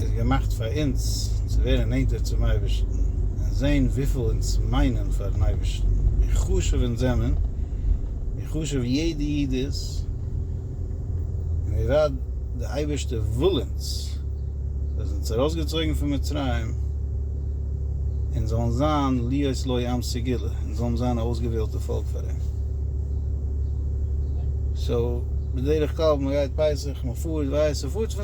איז געמאכט פאר אונז צו ווערן נענטער צום אייבערשטן און זען וויפיל אונז מיינען פארן אייבערשטן, ווי חשוב אונז זענען, ווי חשוב יעדע איד איז, און ווי ווייט די אייבערשטער וויל אונז, זיי זענען אונז ארויסגעצויגן פון מצרים, אונז זאלן זיין להיות לו עם סגולה, אונז זאלן זיין א אויסגעוועלטע פאלק פאר אים. סאו בדרך כלל ווען מען גייט פסח, מען פארט ווייסט, מען פארט.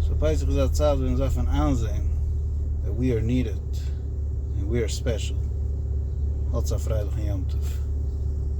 סאו פסח איז א צייט ווען אונז דארפן איינזעהן דעט ווי אר נידעד און ווי אר ספעשל. האטס א פרייליכן יום טוב.